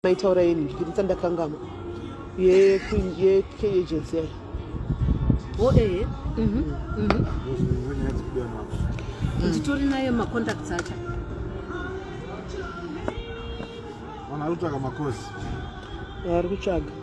maitaura yeni ndikitisa ndakangama ye ye ke agency yayo o oh, eh mhm mhm nditori naye ma contacts acha wana rutsvaga makosi ari kutsvaga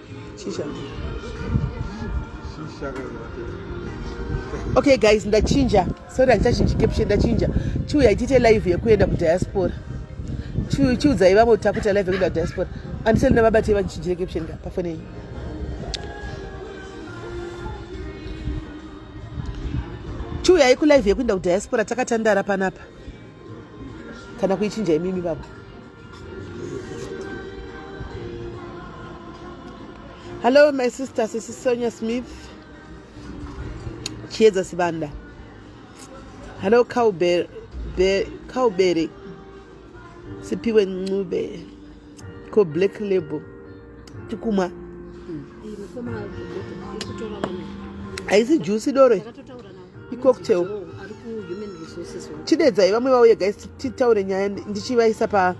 Shisha. Shisha okay guys ndachinja sorry handichachinji caption ndachinja chiuya itiite live yekuenda kudiaspora chiudzai vamwe kuti takuita live yekuenda kudiaspora andiseli navabatei vachinjire caption ka pafoni yenyu chiuyai kulive yekuenda kudiaspora takatandara panapa kana kuichinja imimi baba hallo my sister sisi sonia smith chiedza sibanda hallo cowbere sipiwe ncube ko black label tikumwa haisi juice doro icocktail chidedzai vamwe vauye guys titaure nyaya ndichivaisa pa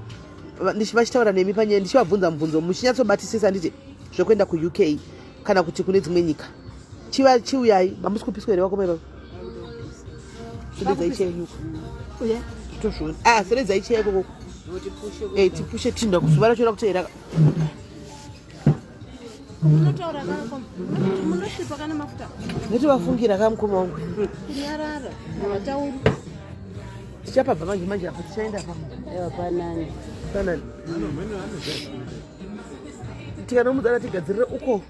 ndichivachitaura nemi panyaya ndichivabvunza mubvunzo muchinyatsobatisisa nditi zvekuenda kuuk kana kuti kune dzimwe nyika chiva chiuyai mamusi kupiswa here vakoma ivavo seredzai chei ikoko tipushe tinda kuzuva racho rakuti here noti vafungira ka mukoma wangu tichapabva manje manje apo tichaenda pa panani tikanomudzana tigadzirire uko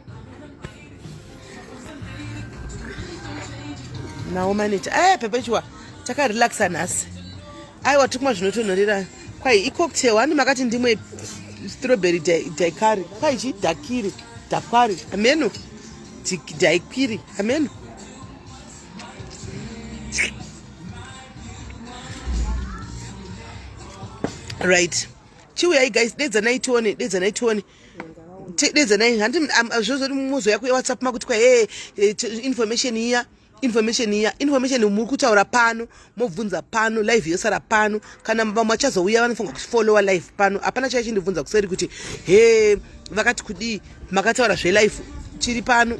nawo manager aya eh, pepechiwa takarelaxa nhasi aiwa tikumwa zvinotonhorera kwai icocktail handi makati ndimwe strawberry daikari kwai chi dakiri dakwari ameno daikwiri ameno right chiuyai guys dedzanai tione dedzanai tione dedzanai handi zvozoti mumozo yako yewhatsapp makuti kwa hee eh, information iya information iya information muri kutaura pano mobvunza pano live yosara pano kana vamwe vachazouya vanofunga kuti follower live pano hapana chaichi ndibvunza kuseri kuti he vakati kudii makataura zvelife chiri pano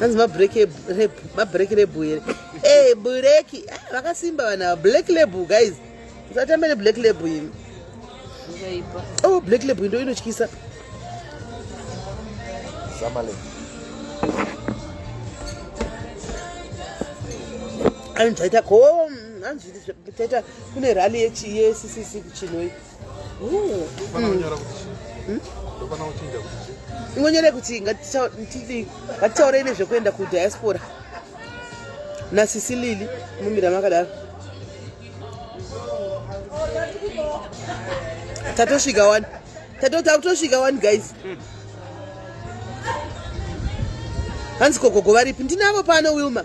hanzi mabreak lebu here e bureki ah, vakasimba vanhu ava black lebu guys musatambe neblack lebu imi oh black lebu indo inotyisa anhu zvaita ko hanzi zvaita kune rally yeccc kuchinoi ingonyore hmm? kuti ngatitaurei nezvekuenda kudiaspora nasisi lili mumira makadaro tatosvika wani tatotosvika wani guys hmm. hanzi gogogo varipi ndinavo pano wilma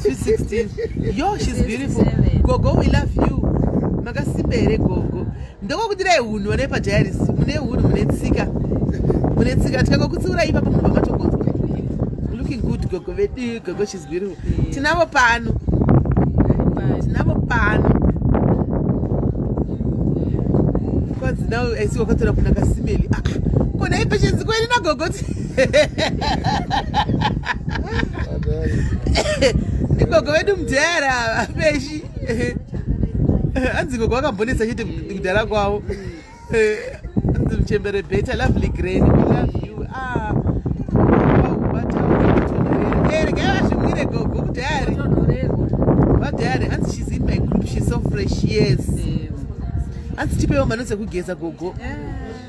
Sweet 16. Yo, she's beautiful. Gogo, we love you. Makasimba here gogo. Ndokokudirai hunhu vane pajairis. Mune hunhu, mune tsika. Mune tsika. Tikanga kutsiurai ipapo munhu vamatogonzwa. Looking good gogo vedu. Gogo, she's beautiful. Tinavo pano. Tinavo pano. Kwanzi now I see wakatora kuna kasimeli. Ah, ah. kona ipeshenzi kweli nagogo. ndigogo vedu mudhara vapeshi hanzi gogo vakambonetsa chete kudhara kwavo hanzi muchembere beta lovely grand we love you ah vazvimwire gogo mudhari vadhari hanzi she's in my group she's so fresh yes hanzi tipewo mano dzekugeza gogo yeah.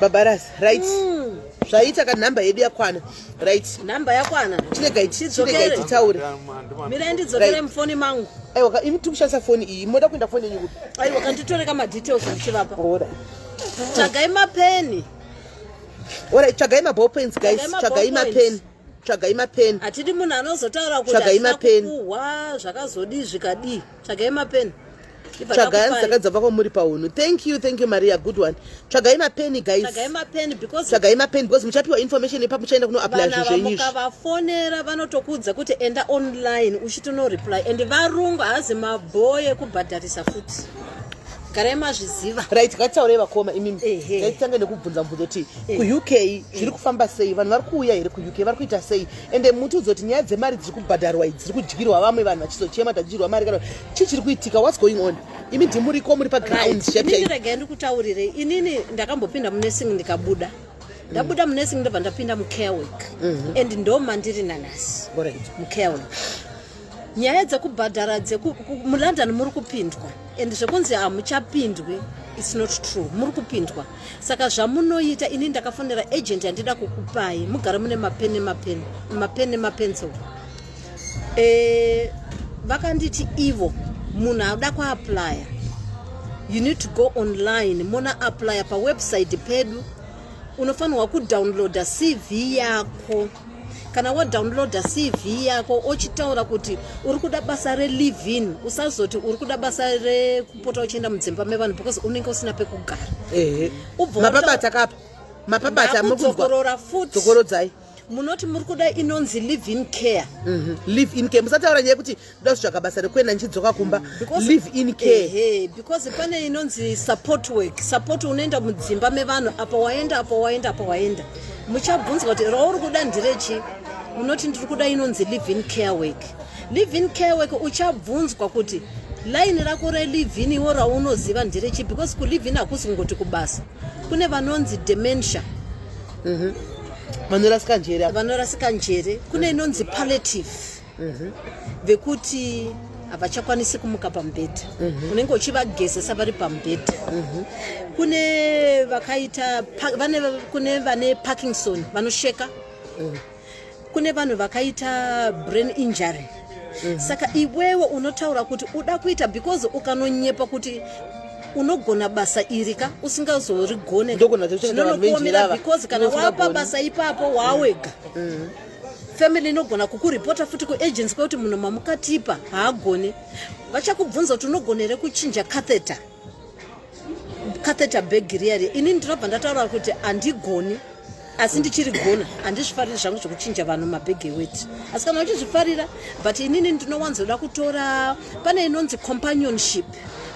babaras right mm. zvaita ka number yedu yakwana right number yakwana chiregai chiregai titaure mira ndidzokere mufoni mangu aiwa ka imi tikushandisa foni iyi moda kuenda foni yenyu kupi aiwa ka nditore ka madetails ndichivapa ora tsvagai mapeni ora tsvagai maball pens guys tsvagai mapeni tsvagai mapeni hatidi munhu anozotaura kuti hatina kupuhwa zvakazodii zvikadii tsvagai mapeni tsvagai saka dzava kwamuri paunhu thank you thank you maria good one tsvagai mapeni guystsvagai mapeni because muchapiwa information ipa muchaenda kunoaplya zvinhu zvenyuukavafonera vanotokuudza kuti enda online uchitonoreply and varungu haazi mabhoye kubhadharisa futi garai mazviziva right ngatitaurei vakoma imimi ngaititanga nekubvunza mubvunzo kuti kuuk zviri kufamba sei vanhu vari kuuya here kuuk vari kuita sei ende mutiudza kuti nyaya dzemari dziri kubhadharwa idzi dziri kudyirwa vamwe vanhu vachizochema tadyirwa mari kana chii chiri kuitika whats going on imi ndimuriko muri paground rega ndikutaurire inini ndakambopinda munesing ndikabuda ndabuda munesing ndobva ndapinda mucarework mhm. and ndomandiri nanasi mucarework nyaya dzekubhadhara mulondon muri kupindwa and zvekunzi hamuchapindwi its not true muri kupindwa saka zvamunoita ini ndakafonera agent yandida kukupai mugare mune mapeni mapeni mapeni mapencil eh, vakanditi ivo munhu akuda kuaplya you need to go online mona aplya pawebsite pedu unofanirwa kudownloada cv yako kana wadownloada cv yako ochitaura kuti uri kuda basa relivin usazoti uri kuda basa rekupota uchienda mudzimba mevanhu because unenge usina pekugara ubvamapabata kapa mapabata mukudzokorora futi dzokorodzai munoti muri kuda inonzi live in care mhm. live in care musataura nyaya yekuti ndoda kutsvaga basa rekuenda ndichidzoka kumba live in care because pane inonzi support work support unoenda mudzimba mevanhu apa waenda apa waenda apa waenda muchabvunzwa kuti rauri kuda nderechi munoti ndiri kuda inonzi live in care work live in care work uchabvunzwa kuti laini rako relivin iwo raunoziva nderechi because kulivin hakusi kungoti kubasa kune vanonzi dementia mm -hmm. vanorasika njere vanorasika njere kune inonzi palliative mhm. vekuti havachakwanisi kumuka pamubhedha mhm. unenge uchivagezesa vari pamubhedha mhm. kune vakaita kune vane parkinson vanosheka kune vanhu vakaita brain injury mm. saka iwewe unotaura kuti uda kuita because ukanonyepa kuti unogona basa iri ka usingazorigone zvinonokuomera because kana wapa basa ipapo waawega mm. mm. family inogona kukuripota futi kuagency kwekuti munhu mamukatipa haagone vachakubvunza kuti unogonere kuchinja catheter catheter bag riya riya ini ndinobva ndataura kuti handigoni asi ndichiri gona handizvifariri zvangu zvekuchinja vanhu mabhege weti asi kana uchizvifarira but inini ndinowanzoda kutora pane inonzi companionship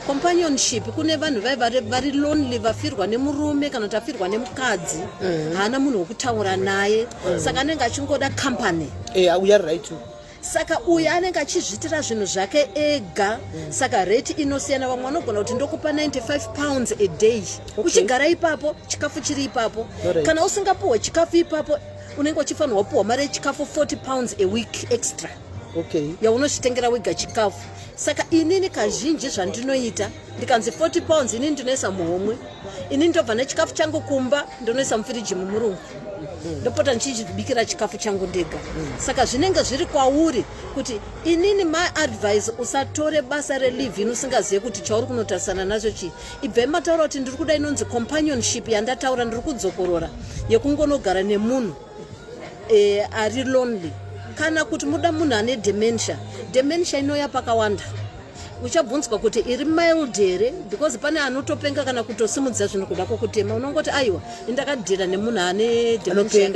companionship kune vanhu vai vari lonely vafirwa nemurume kana kuti afirwa nemukadzi mm. haana munhu wekutaura naye mm. saka anenge achingoda company eh, saka uyu anenge achizviitira zvinhu zvake ega mm. saka rate inosiyana vamwe vanogona kuti ndokupa 95 pounds a day okay. uchigara ipapo chikafu chiri ipapo right. kana usingapuhwe chikafu ipapo unenge uchifanirwa kupuhwa mari yechikafu 40 pounds a week extra okay. yaunochitengera wega chikafu saka inini kazhinji zvandinoita ndikanzi 40 pounds inini ndinoisa muhomwe inini ndobva nechikafu changu kumba ndonoisa mufiriji mumurungu ndopota ndichibikira chikafu changu ndega saka zvinenge zviri kwauri kuti inini my advice usatore basa relive inosingazive kuti chauri kunotarisana nazvo chii ibvai mataura kuti ndiri kuda inonzi companionship yandataura ndiri kudzokorora yekungonogara nemunhu e, ari lonely kana kuti muda munhu ane dementia dementia inoya pakawanda uchabvunzwa kuti iri mild here because pane anotopenga kana kutosimudza zvinhu kuda kwokutema unongoti aiwa indakadhira nemunhu ane dementia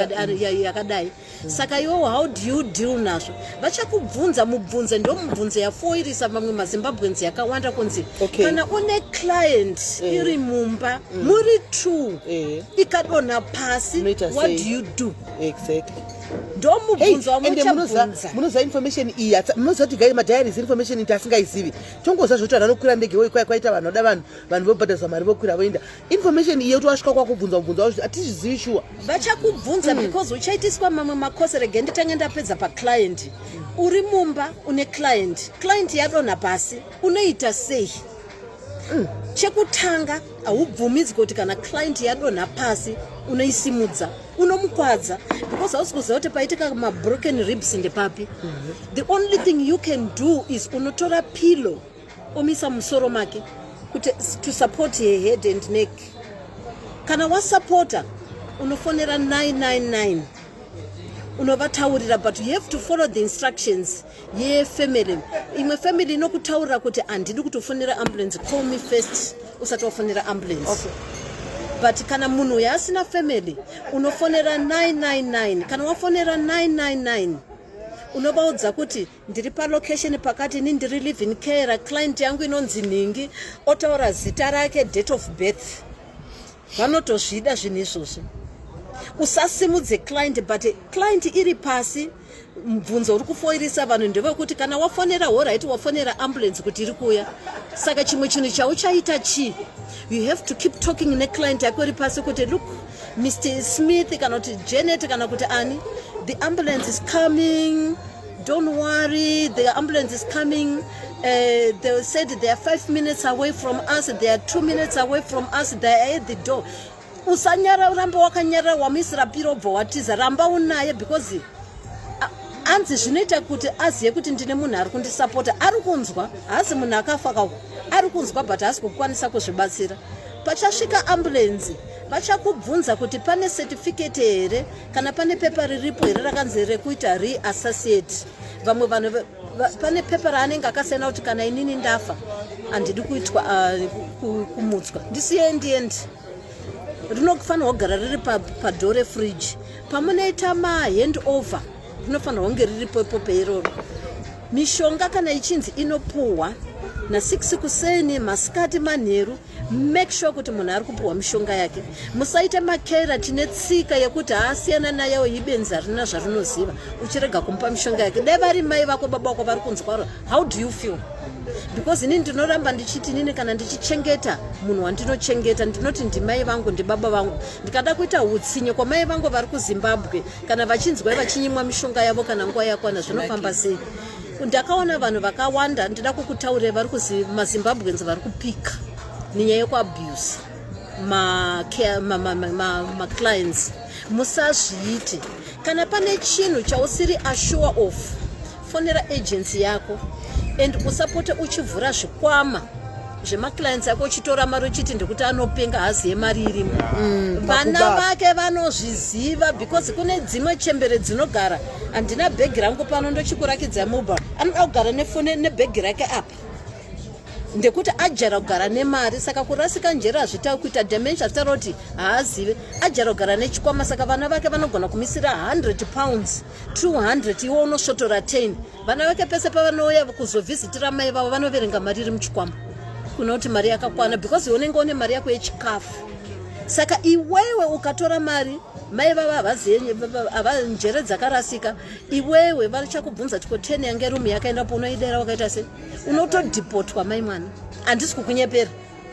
yakadai saka iwowo how do you deal nazvo vachakubvunza mubvunze ndomubvunze yafoirisa mamwe mazimbabweans yakawanda kunzi okay. kana une client eh. iri mumba mm. muri two eh. ikadonha pasi what do you do exactly ndomubvunzamunoziva information iyi munoziva kuti gai madiaries information iti asingaizivi tongoziva zvoti vanhu vanokwira ndege woikwaya kwaita vanhu vada vanhu vanhu vobhadhariswa mari vokwira voenda information iye kuti wasvika kwakubvunza kubvunza kuti hatizvizivi shuwa vachakubvunza mm. because uchaitiswa mamwe makose rege nditange ndapedza paclient uri mumba une client client yadonha pasi unoita sei mm. chekutanga haubvumidzwe kuti kana client yadonha pasi unoisimudza unomukwadza because hausi kuziva kuti paitika mabroken ribs ndepapi mm -hmm. the only thing you can do is unotora pillow omisa musoro make kuti to support her head and neck kana wasupporta unofonera 999 unovataurira but you have to follow the instructions yefamily imwe family inokutaurira kuti handidi kutofonera ambulance call me first usati wafonera ambulance okay. but kana munhu uyo asina family unofonera 999 kana wafonera 999 unovaudza kuti ndiri palocation pakati ini ndiri living care client yangu inonzi nhingi otaura zita rake date of birth vanotozvida zvinhu izvozvo usasimudze client but client iri pasi mubvunzo uri kufoirisa vanhu ndevekuti kana wafonera horaiti wafonera ambulance kuti iri kuuya saka chimwe chinhu chauchaita chii you have to keep talking neclient yako iri pasi kuti look Mr Smith kana kuti Janet kana kuti ani the ambulance is coming don't worry the ambulance is coming Uh, they said they are five minutes away from us they are two minutes away from us they are at the door usanyara uramba wakanyarara wamuisira piro obva watiza ramba unaye because anzi zvinoita kuti azive kuti ndine munhu ari kundisapota ari kunzwa haasi munhu akafa kawo ari kunzwa but haasi kukwanisa kuzvibatsira pachasvika ambulenzi vachakubvunza kuti pane certificate here kana pane pepa riripo here rakanzi rekuita reassociate vamwe vanhu pane pepa raanenge akasiyana kuti kana inini ndafa handidi kuitwa uh, kumutswa ndisiye ndiendi rinofanirwa kugara riri padhoo refridge pamunoita mahand over rinofanirwa kunge riripo ipo peiroro mishonga kana ichinzi inopuhwa na6 kuseni masikati manheru make sure kuti munhu ari kupiwa mishonga yake musaita makera tine tsika yekuti haasiyana nayewo ibenzi harina zvarinoziva uchirega kumupa mishonga yake dai vari mai vako baba wako vari kunzwaro how do you feel because ini ndinoramba ndichiti inini kana ndichichengeta munhu wandinochengeta ndinoti ndimai vangu ndibaba vangu ndikada kuita utsinye kwamai vangu vari kuzimbabwe kana vachinzwai vachinyimwa mishonga yavo kana nguva yakwana zvinofamba sei ndakaona vanhu vakawanda ndida kukutaurira vari kuzi mazimbabweans vari kupika nenyaya yekuabuse maclients musazviite kana pane chinhu chausiri asure of fonera agency yako and usapote uchivhura zvikwama zvemaclients ako uchitora mari uchiti ndikuti anopenga hazi yemari irimo mm, vana vake vanozviziva because kune dzimwe chembere dzinogara handina bhegi rangu pano ndochikurakidza mobile anoda kugara nefone nebhegi rake apa ndekuti ajara kugara nemari saka kurasika njere hazvitavi kuita dimension zvitaura kuti haazive ajara kugara nechikwama saka vana vake vanogona kumisira 100 pounds 200 iwo unosvotora 10 vana vake pese pavanouya kuzovhizitira mai vavo vanoverenga mari iri muchikwama kuna kuti mari yakakwana because unenge une mari yako yechikafu saka iwewe ukatora mari mai vava havazive njere dzakarasika iwewe vachakubvunza tiko ten yange rumu yakaenda po unoidera wakaita se unotodhipotwa mai mwana handisi kukunyepera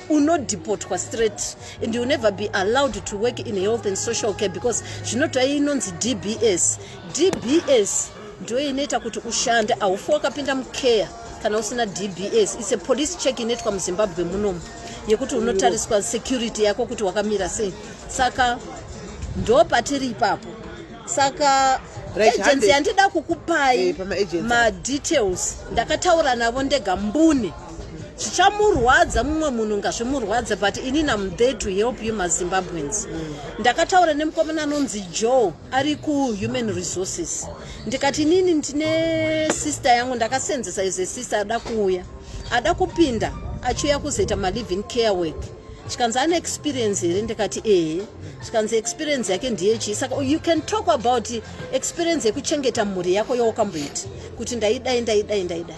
unodhipotwa straight and you never be allowed to work in health and social care because zvinotoa inonzi dbs dbs ndiyo inoita kuti ushande haufi wakapinda mucare kana usina dbs its a police check inoitwa muzimbabwe munomu yekuti unotariswa security yako kuti wakamira sei saka ndo patiri ipapo saka agency yandida kukupai eh, madetails ndakataura navo ndega mbune zvichamurwadza mumwe munhu ngazvimurwadze but ini nam there to help you mazimbabweans mm. ndakataura nemukomana anonzi joe ari kuhuman resources ndikati inini ndine sister yangu ndakasenzesa ize sister ada kuuya ada kupinda achiuya kuzoita maliving care work chikanzi ane experience here ndikati ehe chikanzi experience yake ndiye chii saka you can talk about experience yekuchengeta mhuri yako yaukamboita kuti ndaidai ndaidai ndaidai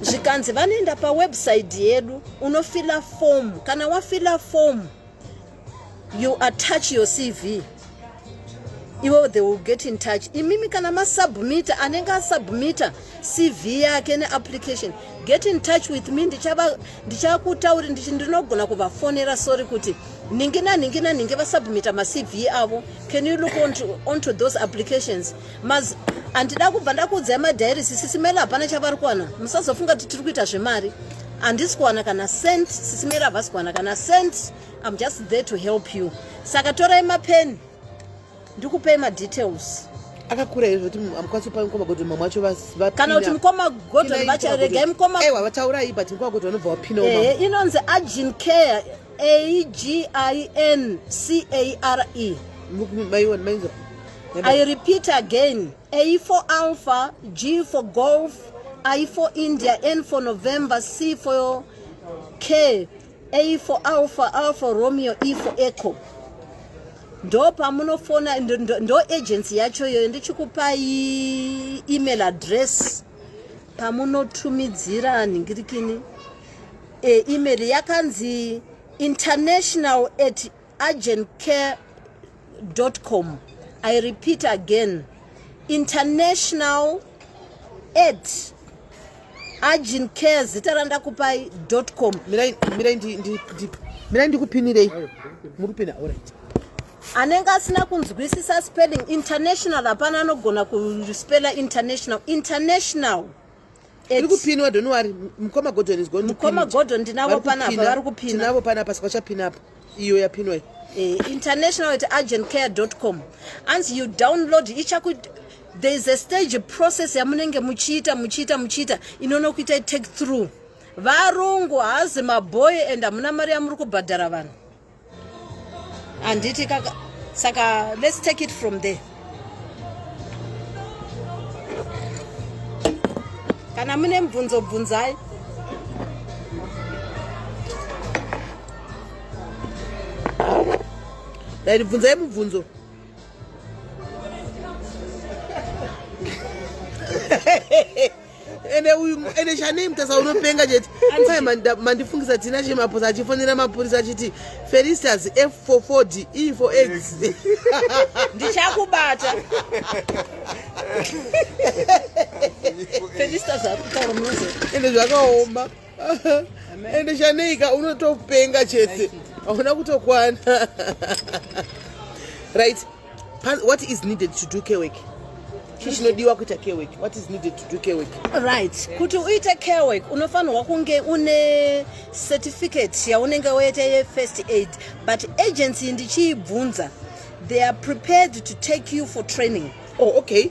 zvikanzi vanoenda pawebsite yedu unofila fomu kana wafila fomu you attach your cv ivo they will get in touch imimi kana masubmitter anenge asubmitter cv yake neapplication get in touch with me ndichakutauri ndichi ndinogona kuvafonera sorry kuti nhingi nanhingi nanhingi vasubmitter macv avo can you look onto, onto those applications mas handida kubva ndakuudzai madhairisi sisimela hapana chavari kuwana musazofunga kuti tiri kuita zvemari handisi kuwana kana cent sisimela havasi kuwana kana cent I'm just there to help you saka torai mapeni ndikupei madetails akakura izvo kuti mukwanisi kupa mukoma godhoni mamwe acho kana kuti mukoma godhoni vacharegai mukoma aiwa vataurai but mukoma godhoni vanobva vapina ehe inonzi agin care a g i n c a r e maiwa mainzwa i repeat again a for alpha g for golf i for india n for november c for care A for Alpha, A for Romeo, E for Echo. Ndo pamunofona ndo, ndo, ndo agency yacho iyoyo ndichikupai email address pamunotumidzira nhingirikini e, email yakanzi international at urgentcare.com i repeat again international aid urgent care zita randakupai com mirai ndikupinirei muri kupina orit anenge asina kunzwisisa spelling international hapana anogona kuspela international international iri kupinwa don't worry mukoma gordon is going to mukoma gordon ndinavo panapa vari kupina tinavo panapa saka chapina apa iyo yapinwa iyi eh, international at urgentcare.com anzi you download ichaku there is a stage process yamunenge muchiita muchiita muchiita inonokuita take through varungu haazi maboy and hamuna mari yamuri kubhadhara vanhu handiti kaka saka let's take it from there kana mune mubvunzo bvunzai dai ndibvunzai mubvunzo ende uyu ende chanei mutasa unopenga chete kwaye mandifungisa tina chemaposa achifonera mapurisa achiti felistas f for ford e for x ndichakubata felistas akutaura munozo ende zvakaoma ende chaneika unotopenga chete hauna kutokwana right what is needed to do kewek chii chinodiwa kuita kewek what is needed to do kewek right kuti uite kewek unofanirwa kunge une certificate yaunenge waita yefirst aid but agency ndichiibvunza they are prepared to take you for training oh okay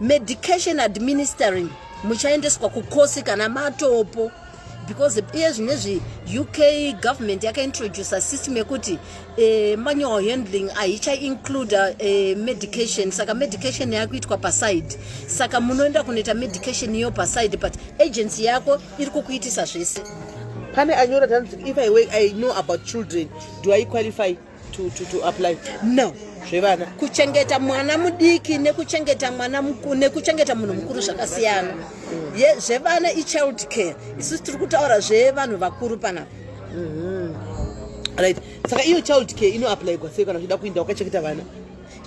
medication administering muchaendeswa kukosi kana matopo because iye zvine zvi uk government yakaintroducer system yekuti eh, manual handling ahichainclude eh, medication saka medication yakuitwa paside saka munoenda kunoita medication iyo paside but agency yako iri kukuitisa zvese pane anyora tanzi if i, I know about children do i qualify to, to, to apply no zvevana kuchengeta mwana mudiki nekuchengeta mwana mukuru nekuchengeta munhu mukuru zvakasiyana ye zvevana ichild care isusu tiri kutaura zvevanhu vakuru panapa mm-hmm. right saka iyo child care inoapplyigwa sei kana uchida kuinda wakachengeta vana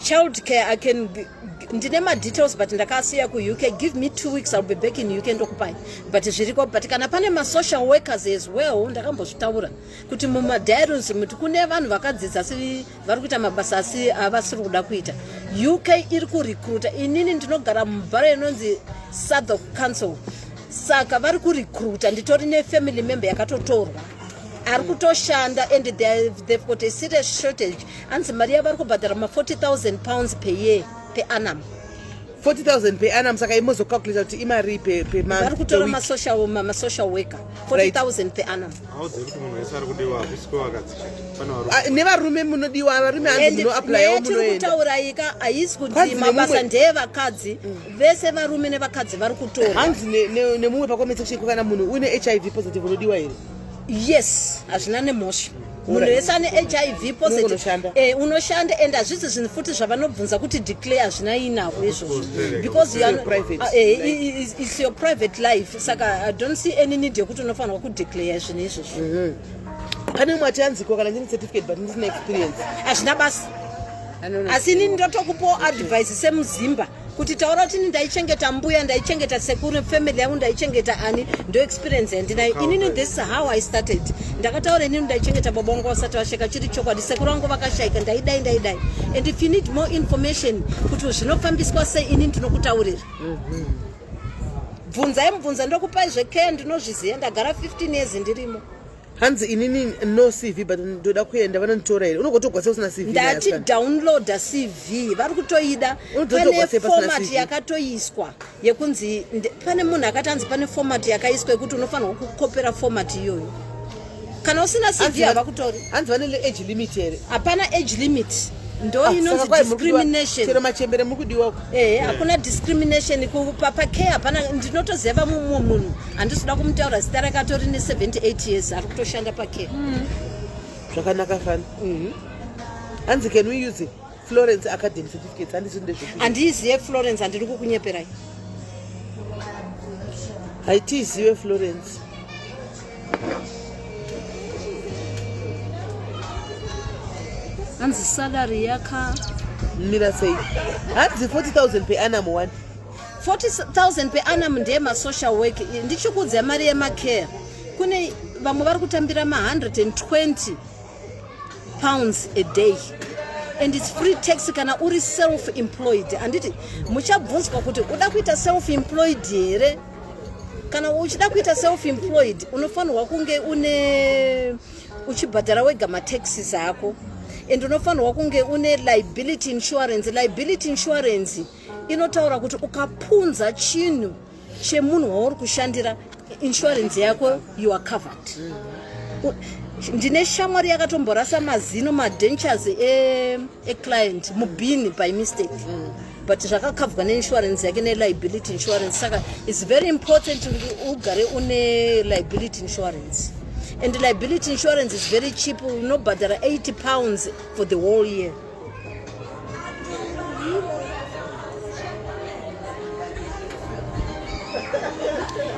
child care i can ndine madetails but ndakasiya kuuk give me two weeks ill be back in uk ndokupai but zviriko but kana pane masocial workers as well ndakambozvitaura kuti mumadiaries muti kune vanhu vakadzidza asi vari kuita mabasa asi avasiri kuda kuita uk iri kurecruta inini ndinogara mubhara inonzi south of council saka vari kurecruta nditori nefamily member yakatotorwa ari kutoshanda and they've got a serious shortage anzi mari yavari kubhadhara ma 40000 pounds per year peanam 40000 per annum saka imozocalculata kuti imari pevari kutora masocial worker 40000 per annum ah, nevarume munodiwa varume anzimunoaplayamunoendaurayika haisi kuti mabasa ndeyevakadzi mm. vese varume nevakadzi vari kutora hanzi nemumwe pacoment section kana munhu une hiv positive unodiwa here yes hazvina nemhosva munhu wese ane hiv positive eh, unoshanda and hazvisi zvinhu futi zvavanobvunza kuti declare hazvina inavo izvozvo because ah, eh, it's your private life saka i don't see any need yekuti unofanirwa kudeclare zvinhu izvozvo mhm. pane umwe atianziko kana ndine certificate but ndisina experience hazvina basa asi inini ndotokupawo advice semuzimba kuti taura kuti ini ndaichengeta mbuya ndaichengeta sekuru family yangu ndaichengeta ani ndo experience yandinayo inini this is how i started ndakataura inini ndaichengeta baba wangu vasati vasheka chiri chokwadi sekuru vangu vakashaika ndaidai ndaidai and if you need more information kuti zvinofambiswa sei ini ndinokutaurira mhm. bvunzai mubvunza ndokupai zvekeya ndinozviziva ndagara 15 years ndirimo hanzi inini no cv but ndoda kuenda vanonditora here unogotogwasa usina cv ndati downloada cv vari kutoida pane format yakatoiswa yekunzi pane munhu akati anzi pane format yakaiswa yekuti unofanirwa kukopera format iyoyo kana usina cv havakutori hanzi vane age limit here hapana age limit ndoinonzidiscriminationchero ah, machembere mukudiwa ehe eh. hakuna discrimination papake hapana ndinotoziva vamwe mumwe munhu handisi kuda kumutaura zita rake atori ne78 years ari kutoshanda pake hmm. zvakanaka fani mhm. hanzi can we use florence academy certificates handisi ndezvekuti handiizive florence handiri kukunyeperai haitiizive florence hanzi salary yaka mira sei hanzi 40000 per annum one 40000 per annum ndiye masocial work ndichikuudza mari yemacare kune vamwe vari kutambira ma120 pounds a day and its free tax kana uri self employed handiti muchabvunzwa kuti uda kuita self employed here kana uchida kuita self employed unofanirwa kunge une uchibhadhara wega mataxes ako and unofanirwa kunge une liability insurance liability insurance inotaura kuti ukapunza chinhu chemunhu wauri kushandira insurance yako you are covered ndine shamwari yakatomborasa mazino madentures eclient e mubhini by mistake mm. but zvakakavhwa neinsurance yake neliability insurance saka its very important kuti ugare une liability insurance and liability insurance is very cheap unobhadhara 80 pounds for the whole year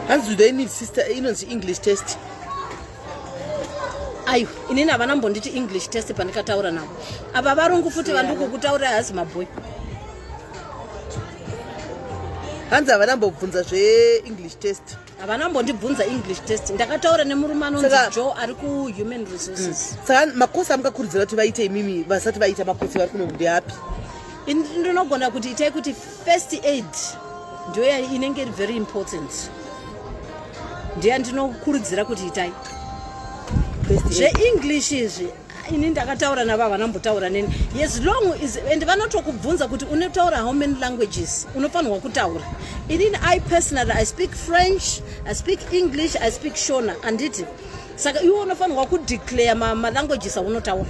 hanzi do they need sister inonzi english test ayo inini havana mbonditi english test pandikataura navo ava varungu futi vandikukutaurira hasi maboy hanzi havana mbobvunza zveenglish test havana mbondibvunza english test ndakataura nemurume anonzi jo ari kuhuman resources mm. saka makosi amungakurudzira kuti vaite imimi vasati vaita makosi vari kuno ndeapi ndinogona kuti itai kuti first aid ndoya inenge iri very important ndiye ndinokurudzira kuti itai zveenglish izvi ini ndakataura navava nambotaura neni yes long is and vanotokubvunza kuti unotaura how many languages unofanirwa kutaura inini i personally i speak french i speak english i speak shona anditi saka iwe unofanirwa kudeclare malanguages ma aunotaura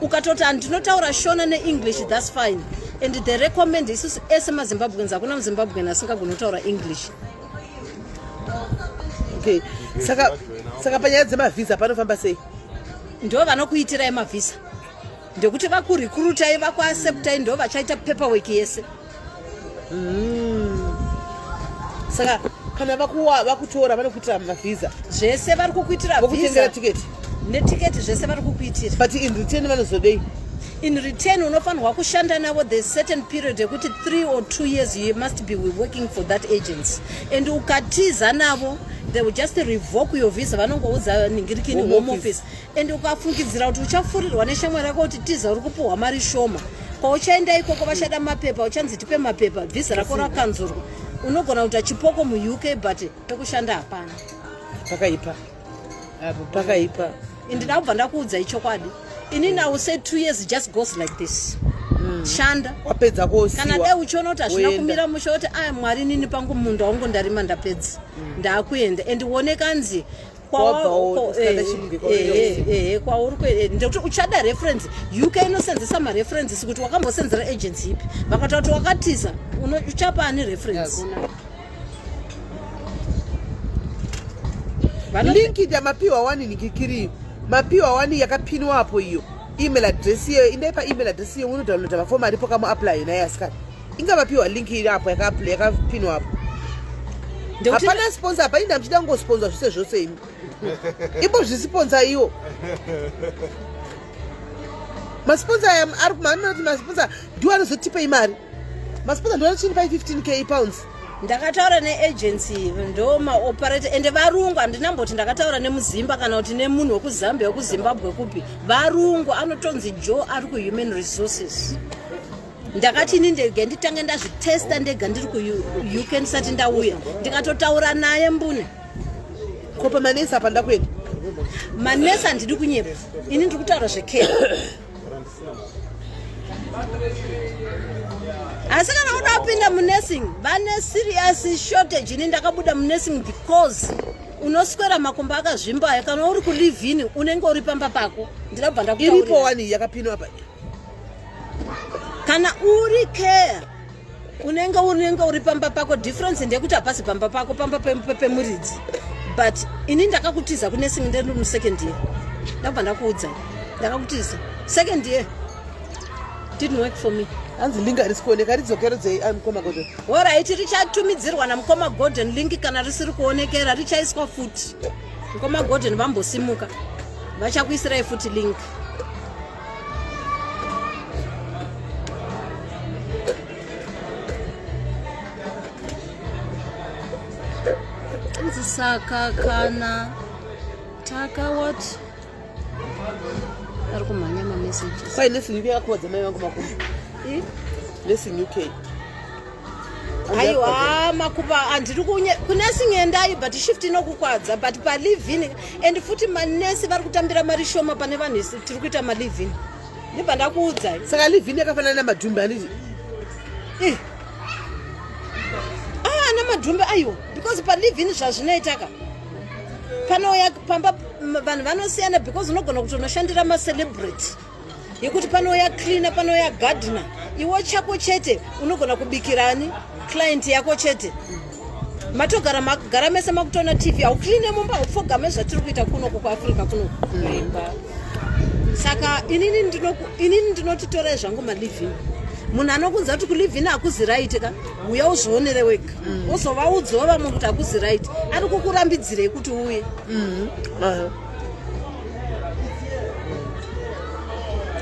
ukatoti andinotaura shona neenglish thats fine and the recommend isusu ese mazimbabweans hakuna muzimbabwean asingagoni kutaura english okay saka saka panyaya dzemavhisa panofamba sei ndo vanokuitirai mavhisa ndekuti vakurikurutai vakuaseptai ndo vachaita paperwork yese mm. saka kana vakutora vanokuitira mavhisa zvese vari kukuitira vokutengera tiketi netiketi zvese vari kukuitira but in return vanozodei in return unofanirwa kushanda navo the certain period yekuti three or two years you must be working for that agency and ukatiza navo they will just revoke your visa vanongoudza ningirikini home office and ukafungidzira kuti uchafurirwa neshamwari yako kuti tiza uri kupuhwa mari shoma pauchaenda ikoko vachada mapepa uchanzi tipe mapepa vhisa rako rakanzurwa unogona kuita chipoko muuk but pekushanda hapana pakaipa pakaipa and ndakubva ndakuudza ichokwadi ini now say two years just goes like this mm. shanda wapedza kosiwa kana dai uchiona kuti hazvina kumira musha kuti aya mwari nini pangu munda wangu ndarima ndapedza mm. ndakuenda and uone kanzi ndekuti uchada reference uk inosenzesa mareferences kuti wakambosenzera agency ipi vakataura kuti wakatiza uchapa ani reference yeah, linki yamapiwa wani nikikiri mapiwa wani yakapinwa apo iyo email address iyeyo indai paemail address iyeyo unodownloada mafomu aripo kamuapply naye asikana inga vapiwa link iri apo yakapinwa apo hapana sponsor apa inda muchida kungosponsa zvese zvose imi imbozvisiponsa iwo masiponsa aya ari kumaamina kuti masiponsa ndiwo anozotipei mari masiponsa ndiwo anochinipai 15 k pounds ndakataura neagency ndo maoperator ende varungu handina mboti ndakataura nemuzimba kana kuti nemunhu wekuzambia wekuzimbabwe kupi varungu anotonzi jo ari kuhuman resources ndakati ini ndege nditange ndazvitesta ndega ndiri kuuk ndisati ndauya ndikatotaura naye mbune ko pamanesi apa ndakuenda manesi handidi kunyepa ini ndiri kutaura zvekee asi kana kuda kupinda munursing vane serious shortage ini ndakabuda munursing because unoswera makumba akazvimbayo kana uri kulivini unenge uri pamba pako ndinabva ndakutaurira iripo wani yakapinwa apa kana uri care unenge unenge uri pamba pako difference ndeyekuti hapasi pamba pako pamba pemuridzi but ini ndakakutiza kune singi ndiri musecond year ndakubva ndakuudza ndakakutiza second year didn't work for me hanzi link harisi kuoneka ridzokerodzei ah, mukoma golden orit richatumidzirwa namukoma golden link kana risiri kuonekera richaiswa futi mukoma golden vambosimuka vachakuisirai futi link saka kana taka what ari kumhanya mamessages kwai lesson yako wadzamai vangu makuru lesson uk aiwa makupa handiri kunesi ngendai but shift inokukwadza but palivin and futi manesi vari kutambira mari shoma pane vanhu tiri kuita malivin ndibva ndakuudzai saka livin yakafanana namadhumbe anditi eh. ah, ana madhumbe aiwa because palivin zvazvinoitaka panouya pamba vanhu vanosiyana because unogona kuti unoshandira macelebrity yekuti panouya cleaner panouya gardener iwo chako chete unogona kubikirani client yako chete matogara magara mese makutoona tv haucline mumba haupfogame zvatiri kuita kunoku kuafrica kunoku saka inini ndinotitorei zvangu maliving munhu anokunza kuti kuliving hakuzi right ka uya uzvionere wega mm. ozovaudzawo vamwe kuti hakuzi right ari kukurambidzirei kuti uye mm-hmm.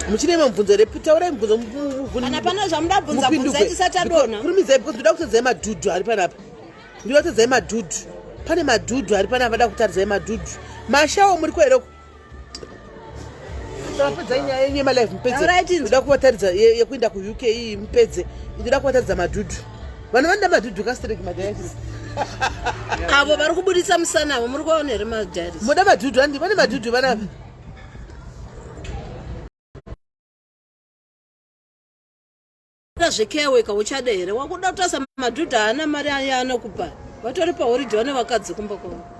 muchine mabvunzo here taurai mubvunzo kana pana zvamuda bvunza bvunza tisati adona kurumidzai because ndoda kutadzai madhudhu ari panapa ndoda kutadzai madhudhu pane madhudhu ari panapa ndoda kutadzai madhudhu mashawo muri ko here uko tapedzai nyaya yenyu yemalife mupedze ndoda kuvataridza yekuenda kuuk iyi mupedze ndoda kuvataridza madhudhu vanhu vanoda madhudhu kastrek madiaries avo vari kubudisa musana avo muri kuvaona here madiaries moda madhudhu andi vane madhudhu vanavi zvekeweka uchada here wakuda kutasa madhudhu haana mari aye anokupa vatori pahoride vane vakadzi kumba kwavo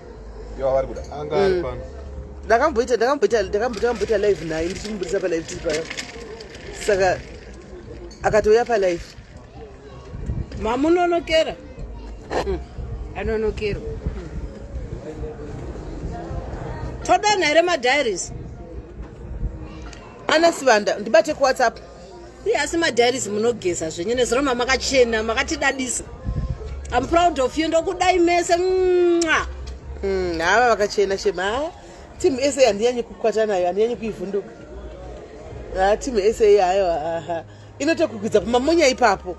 yavari kuda anga ari mm. pano ndakamboita ndakamboita ndakamboita live naye ndichimuburitsa palive tiri paya saka akatouya palive mamunonokera mm. anonokerwa todana here madiaries ana sivanda ndibate kuwhatsapp Iye asi madiaries munogeza zvenyu neziroma makachena makatidadisa. I'm proud of you ndokudai mese. Mwah. Mm, hava vakachena shema hava timu ese handinyanye kukwata nayo handinyanye kuivhunduka ha timu ese hayo aha inotokukwidza kumamonya ipapo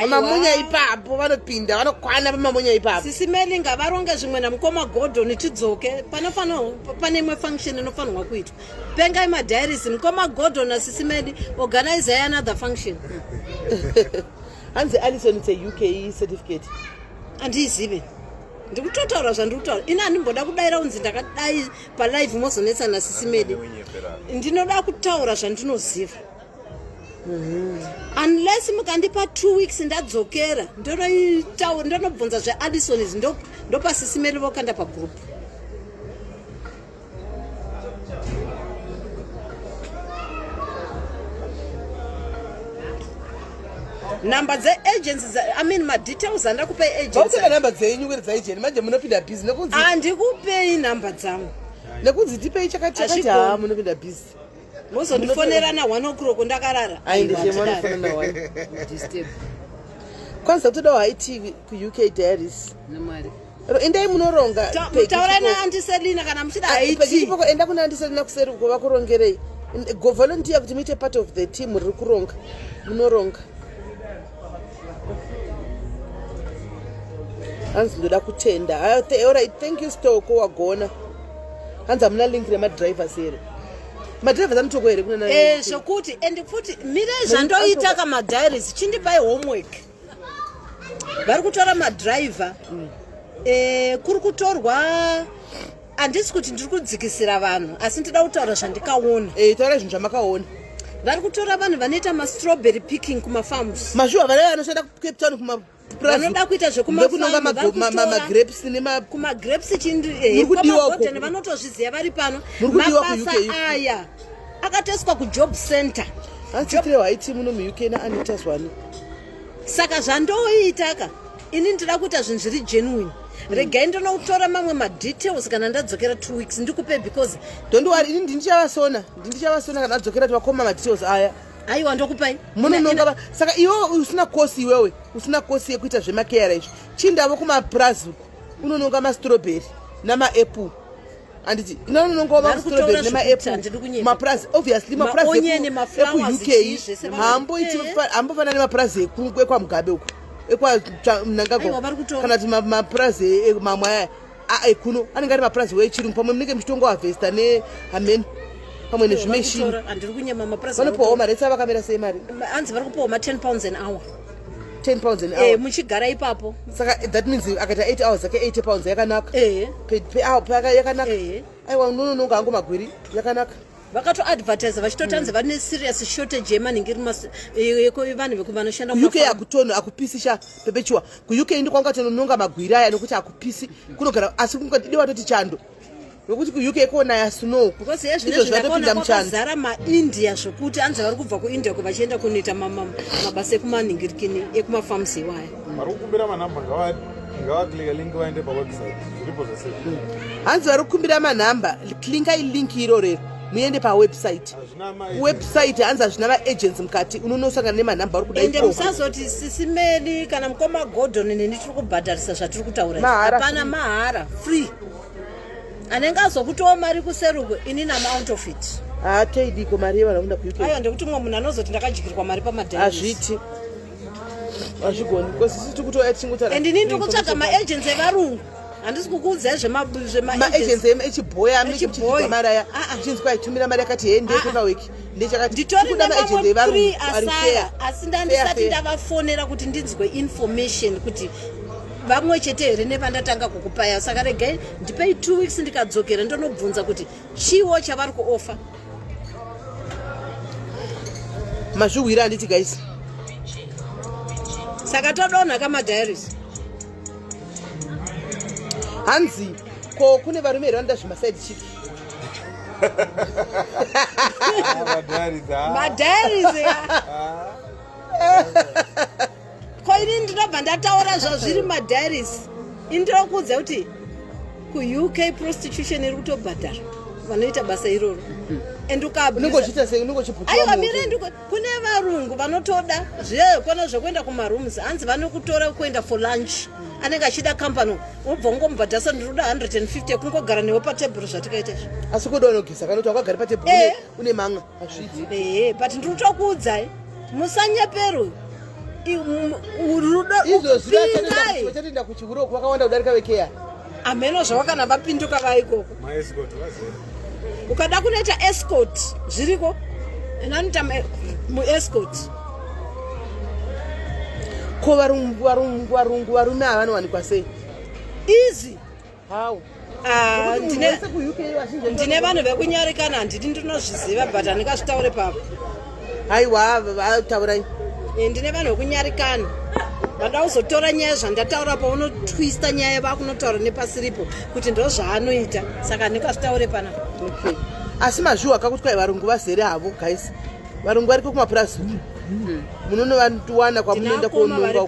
mamunya ipapo vanopinda vanokwana pamamunya ipapo sisi meli ngavaronge zvimwe namukoma gordon tidzoke panofanirwa pane imwe function inofanirwa kuitwa pengai madiaris mukoma gordon nasisi meli organizai another function hanzi alison its a uk certificate andiizive ndiri kutotaura zvandiri kutaura ini handimboda kudaira kunzi ndakadai palive mozonetsana sisi medi ndinoda kutaura zvandinoziva unless mukandipa two weeks ndadzokera ndonobvunza zveaddison izvi ndopasisimeri vokanda pagroup number dze agents i mean ma details andira kupa agents ba number dze nyuwe dza agent manje munopinda busy nekunzi andikupei number dzangu nekunzi tipei chakati chakati ha munopinda busy mozondifonera na one o'clock ndakarara kwanza kutodawo haitivi kuuk diaries namwari endai munoronga taura naandiselina kana muchidaipoko enda kuna andiselina kuseri uko vakurongerei govolontiya kuti muite part of the team riri kuronga munoronga hanzi ndoda kutenda orit thank you stoko wagona hanzi hamuna link remadrivers here madrivers anotoko here kunana eh, zvokuti and futi mirei zvandoita kamadiaries chindipai homework vari kutora madriver mm. eh, kuri kutorwa handisi kuti ndiri kudzikisira vanhu asi ndida kutaura zvandikaona e, taura zvinhu zvamakaona vari kutora vanhu vanoita mastrawberry picking kumafarms mashuwa vana vanoshanda kucape town kuma vanoda kuita zvekumagrapes nemagrapes chindikudiwagodhen eh, vanotozviziva vari pano mabasa aya akatoiswa kujob center ansitirehwaiti muno muuk naanitas wani saka zvandoitaka ini ndida kuita zvinhu zviri genuine mm. regai ndonoutora mamwe madetails kana ndadzokera two weeks ndikupe because don't worry ini ndindichavasona ndindichavasona kana adzokera tivakoma madetails aya aiwa ndokupai munononga saka iwewe usina kosi iwewe usina kosi yekuita zvemakeara izvi chindavo kumapurazi uku unononga mastrobheri namaapple handiti inani unongova mastroberi nemaapple mapurazi obviously mapurazi ekuuk haamboiti haambofanana nemapurazi ekwamugabe uko ekwanangagwa kana kuti mapurazi mamwe aya aekuno anenge ari mapurazi wechirungu pamwe munenge muchitongo havesta nehameni pamwe nezvimeshini vanopiwawo mari esa vakamira sei mari anzi vari kupiwawo ma10 pounds an hour 10 pounds an eh, hour eh muchigara ipapo saka that means akaita 8 hours ake 80 pounds yakanaka eh pe pe hour pe yakanaka eh aiwa unono nonga angu magwiri yakanaka vakato advertise vachitotanzi mm. vane serious shortage yemanhingi vanhu vekumanoshanda uk akutono akupisi sha pepechuwa kuuk ndi kwanga tonononga magwiri aya nokuti akupisi kunogara asi kunga dide watoti chando nokuti kuuk konaya snow because hezvinezvo zvatopinda muchanzara maindia zvokuti anzi vari kubva kuindia ko vachienda kunoita mabasa ekumanhingirikini ekumafarms iwaya vari kukumbira manhamba ngavaklinga link vaende pawebsite zviripo zvese hanzi vari kukumbira manhamba klingai link iro rero muende pawebsite website hanzi hazvina vaagents mukati unonosangana nemanhamba ari kudaende musazoti sisimeli kana mukoma gordon neni tiri kubhadharisa zvatiri kutaura hapana mahara free anenge azokutowo mari kuseruko ini namount of it haatoidiko ah, mari yevanhu vakunda kuuk aiwa ndekuti mumwe munhu anozoti ndakadyirwa mari pamadai hazviti hazvigoni because sisi tikutoya tichingotara and ini ndiri kutsvaga maagency evarungu handisi kukuudzai zvemaagency echiboy amechibhoy mari aya ah, ah. chinzwa aitumira mari yakati hende pekaweki ndichakatiasaya asi ndandisati ndavafonera kuti ndinzwe information kuti vamwe chete here nevandatanga kukupaya saka regai ndipei two weeks ndikadzokera ndonobvunza kuti chiwo chavari kuofa mazvihwira handiti guys saka todonha kamadiaries hanzi ko kune varume here vanoda zvemaside chik madiaries ah. ko ini ndinobva ndataura zvazviri madiaries ini ndira kuudza kuti kuuk prostitution iri kutobhadhara vanoita basa iroro and ukaaiwa mirend kune varungu vanotoda zvekona zvekuenda kumarooms hanzi vanokutora kuenda for lunch anenge achida company wobva ungomubhadhasa ndinoda 150 kungogara newe patebhuru zvatikaita izvi asi kuda unogisa kana kuti wakagari patebhuru eh. une manga ehe but ndiri kutokuudzai musanyeperwe rudo izvozviachatenda kuchihuro kwakawanda kudarika vekeya hameno zvawakana vapinduka vaikoko ukada kunoita escort zviriko and anoita muescort ko varungu varungu varungu varume ava vanowanikwa sei easy How? Ah, ndine ndine vanhu vekunyarikana handidi ndinozviziva but handingazvitaure papa haiwa taurai eh, ndine vanhu vekunyarikana vada kuzotora nyaya zvandataura paunotwista nyaya vakunotaura nepasiripo kuti ndo zvaanoita saka handingazvitaure pana okay. asi mazviwa kakuti kwai varungu vazere havo guys varungu variko kumapurazi hmm. munonovawana kwamunoenda kuononga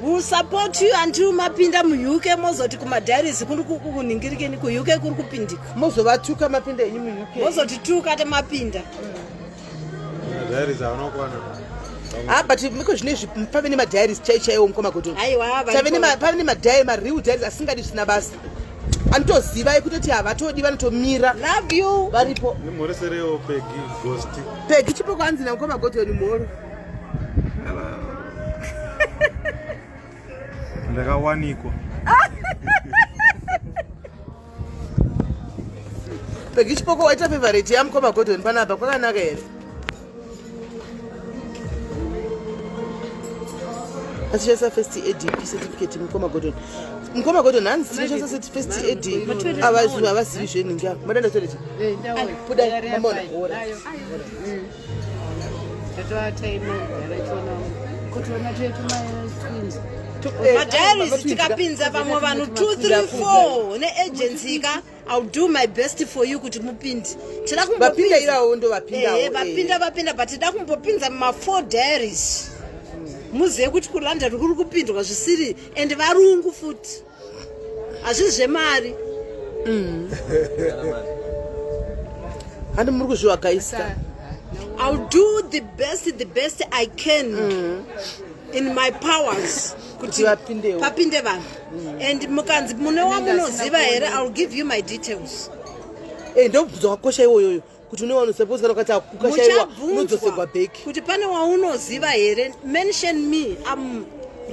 We'll support you until mapinda muuk mozoti kumadiaries kuri kuningirikeni kuuk kuri kupindika mozovatuka mapinda enyu muuk mozotituka te mapinda Ah, but miko zvine izvi pave nemadiaries chai chaiwo mukoma kuti pave nemadiary mareal diaries asingadi zvisina basa anotoziva ekutoti havatodi vanotomira love you varipo pegi chipo kwanzi namukoma godoni mhoro ndakawanikwa pegi chipoko waita favorite yamukoma gordon panapa kwakanaka here atishandisa first aid certificate mukoma gordon mukoma gordon hanzi tinoshandisa first aid avazivi zvenhinga madanda torecha buda mamona madiaries eh, tikapinza pamwe vanhu 234 neagency ka ill do my best for you kuti mupinde tida kumbopindaivapinda eh, eh. vapinda but tida kumbopinza mafour diaries muzive kuti kulanda rikuri kupindwa zvisiri and varungu futi hazvisi zvemari mm. handi muri kuzvivakaisa ill do the best the best i can mm. in my powers kuti papinde vanhu mm. and mukanzi mune wamunoziva here ill give you my details eh, ndobvunza wakosha iwoyoyo kuti une wanosaposa ukati ukashaiwa unodzosegwa back kuti pane waunoziva here mention me am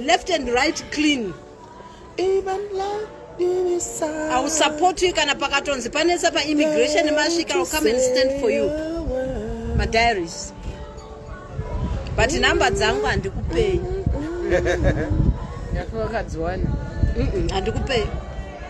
left and right clean even like ausupportwi kana pakatonzi panetsa paimmigration masvika will come and stand for you madiaries but number dzangu handikupei ndakuvakadziwana handikupei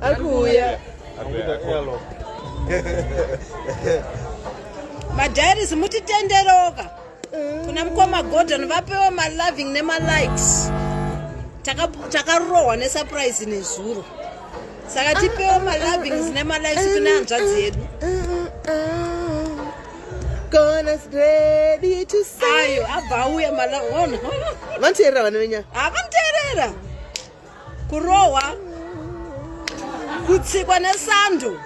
akuuya madhairis mutitenderoka kuna mukoma gordon vapewa maloving nemalikes takarohwa nesurprise nezuro saka tipewa malovings nemalikes kune hanzvadzi yedu ayo abva auya vanotierera vana venyaya ah, vanotierera kurohwa kutsikwa nesando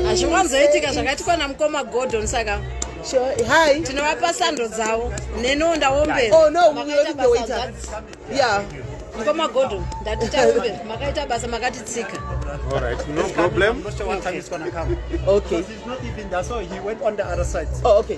hazviwanzoitika zvakaitikwa namukoma gordon saka hi tinovapa sando dzavo neniwo ndaombera oh, no, yeah. mukoma gordon ndati taombe makaita basa makatitsika okay.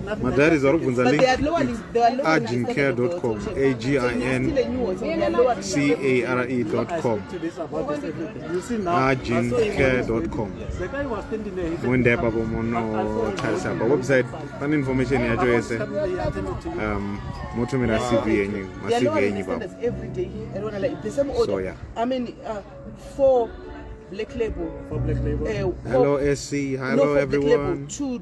Madaris vari kubvunza link agincare.com a g i n c a r e.com agincare.com moenda ipapo monotarisa pa website pane information yacho yese um, motumira cv yenyu macv yenyu ipapo so yeah uh, Black label. Black label. Uh, Hello, SC. Hello, no, everyone. Black label, two,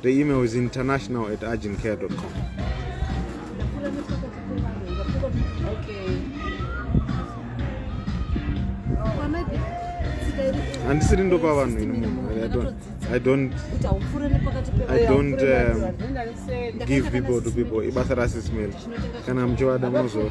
The email is international at urgentcare.com. handisiri ndopa vanhu ini munhu i don't i don't um, give people to people ibasa rasismail kana muchivada munozo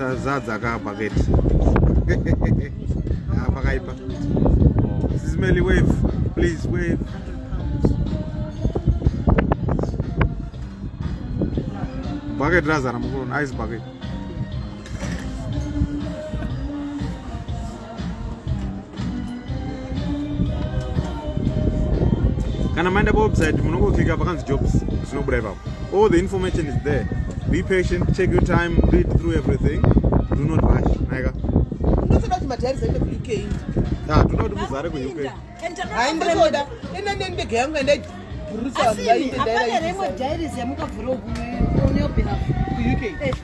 tazadza ka paketi ah, pakaipa sismely wave please wave bucket razara mukuona ice bucket kana maenda pawebsite munongokika pakanzi jobs zvinobuda ipapo all the information is there be patient take your time read through everything do not rush naika ndotoda kuti madhari zaende kuuk ah, toda kuti muzare kuuk hai ndotoda enda nendege yangu endai bhurusa vanhu vaite daira apana remwe dhairis yamukavhura kuuk eh.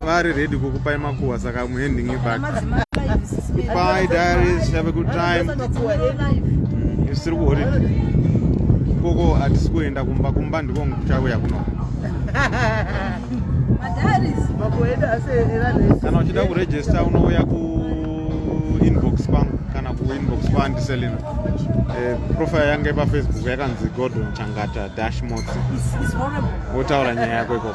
vari ready kukupai makuwa saka I'm handing you back bye diaries have a good time isu tiri kuholiday ikoko hatisi kuenda kumba kumba ndiko kuchauya kuno kana uchida kuregista unouya kuinbox kwangu kana kuinbox kwaandiselina eh, profile yange pafacebook yakanzi gordon changata dash motsi wotaura nyaya yako ikoko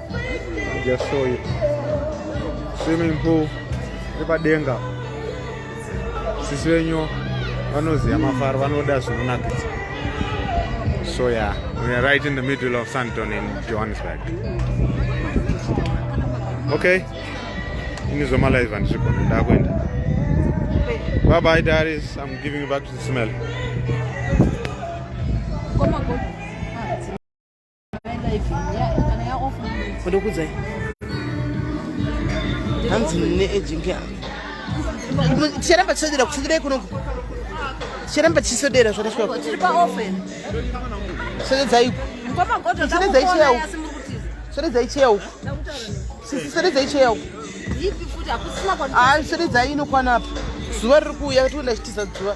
Just show you. Swimming pool ipadenga. Sisi venyu vanoziva mafaro vanoda zvinonakidza. So yeah, we are right in the middle of Santon in Johannesburg. Okay. Ini zoma live and shikon ndakwenda. Bye bye Darius, I'm giving you back to the smell. ndokudzai hanzi mune agent yangu ticharamba tisodera kusodera ikunoku ticharamba tichisodera zvakasvika sodedzai uku sodedzai cheya uku sodedzai cheya uku sodedzai cheya uku sodedzai inokwana apa zuva riri kuuya tikuenda chitiza zuva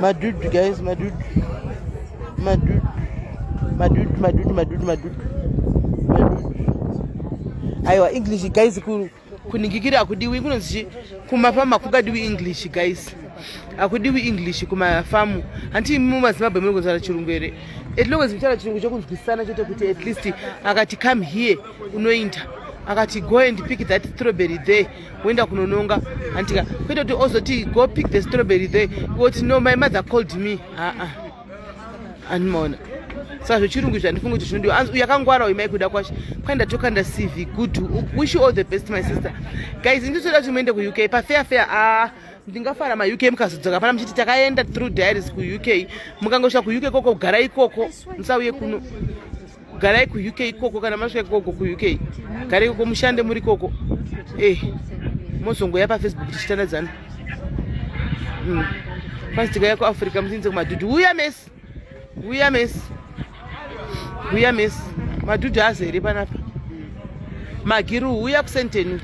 Madude guys, madude. Madude. Madude, madude, madude, madude. Aiwa English guys ku kuningikira akudiwi kunonzi kumafama kungadiwi English guys. Akudiwi English kumafamu. Hanti mu maZimbabwe muri kunzara chirungu here? At long as mutaura chirungu chokunzwisana chote kuti at least akati come here unoinda. Akati go and pick that strawberry there. woenda kunononga antika kwete kuti ozoti go pick the strawberry there woti no my mother called me aa ah, ah. anmaona saka zvechirungu izvi handifungi kuti zvinodiwa anzi uyakangwara uyu maikuda kwacho kwai ndatoka ndacv good wish you all the best my sister guys inditoda kuti muende kuuk pafair fair aa ah, ndingafara mauk mukazodzoka pana muchiti takaenda through diaries kuuk mukangosvika kuuk koko gara ikoko musauye kuno garai kuuk ikoko kana masvika ikoko kuuk garai ikoko mushande muri ikoko e eh, mozongoya pafacebook tichitandadzana mm. kwanzi tikaya kuafrica musinze kumadhudhu uya mesi uya mesi uya mesi madhudhu azi here panapa magiru uya kusenteni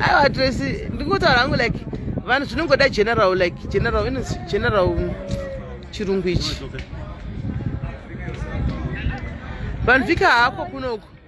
aiwa tracy ndingotaura hangu like vanhu zvinongoda general like general inonzi general chirungu ichi vanhu vika hako kunoku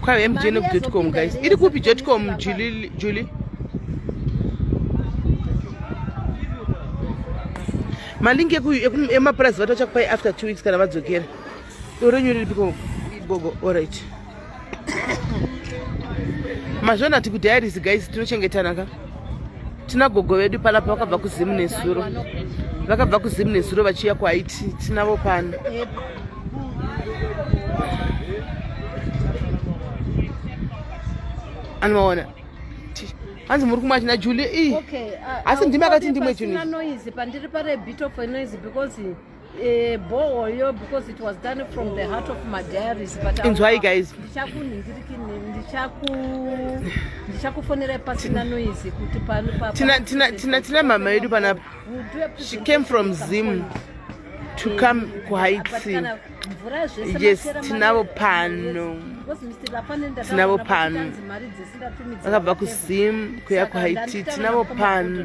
Kwawe MJ no Jotcom guys. Iri kupi Jotcom Julie Julie? Malingi eku emapurazi vatocha kupai after 2 weeks kana vadzokera. Urenyu riri piko gogo all right. mazvona kuti kudiaries guys tinochengetana ka tina gogo vedu panapa vakabva kuzimu nezuro vakabva kuzimu nezuro vachiuya kuhaiti tinavo pano anovaona hanzi muri kumwa china julie ii asi ndimi akati ndimwe chinoizi pandiri parebitofoinoizi because Eh, boyo because it was done from the heart of my diaries but inzwai guys ndichakufonera pasina noise kuti pano tina mama yedu panapa she came from zim to eh, come kuhaitsin yes tinavo pano tinavo pano vakabva kuzim kuya kuhaiti tinavo pano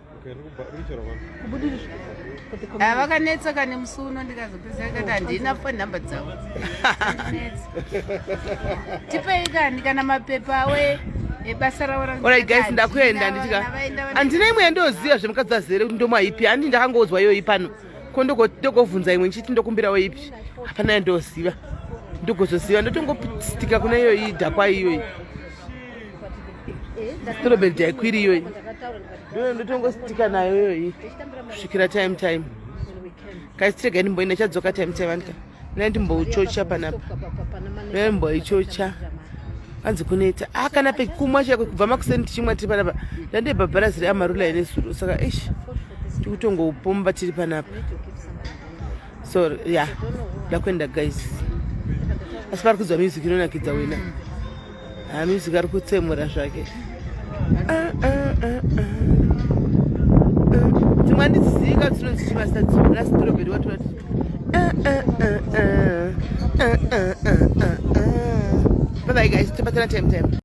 vakanetsa kane musi uno ndikazopedzisa kati handina fo nhamba dzavo tipei kani kana mapepa awe ebasa raoraorit guys ndakuenda nditika handina imwe yandoziva zvemukadzi azere kuti ndomwa ipi handi ndakangoudzwa iyoyi pano ko ndokovhunza imwe ndichiti ndokumbirawo ipi hapana yandoziva ndogozoziva ndotongopitika kuna iyoyi dhakwa iyoyi eh, storobed yaikwiri iyoyi Ndoyo ndotongositika nayo iyoyi kusvikira time time. Kaisitirega ndimboenda chadzoka time time andika. Nai ndimbouchocha panapa. Nai mboichocha. Anzi kuneta. Ah kana pekumwa chako kubva makuseni tichimwa tiri panapa. Ndande bhabharazi reamarula ine suru. Saka ish. Tikutongoupomba tiri panapa. So yeah. Ndakwenda guys. Asi pari kuzwa music inonakidza wena. Ah, music ari kutsemura zvake ah, ah, ah, ah. dzimwe andiziika dzinonzi chimasa dzimwe nasitorobheri watora ti ah, ah, ah, ah. ah, ah, ah, ah, ah. bye bye guys tibatana time time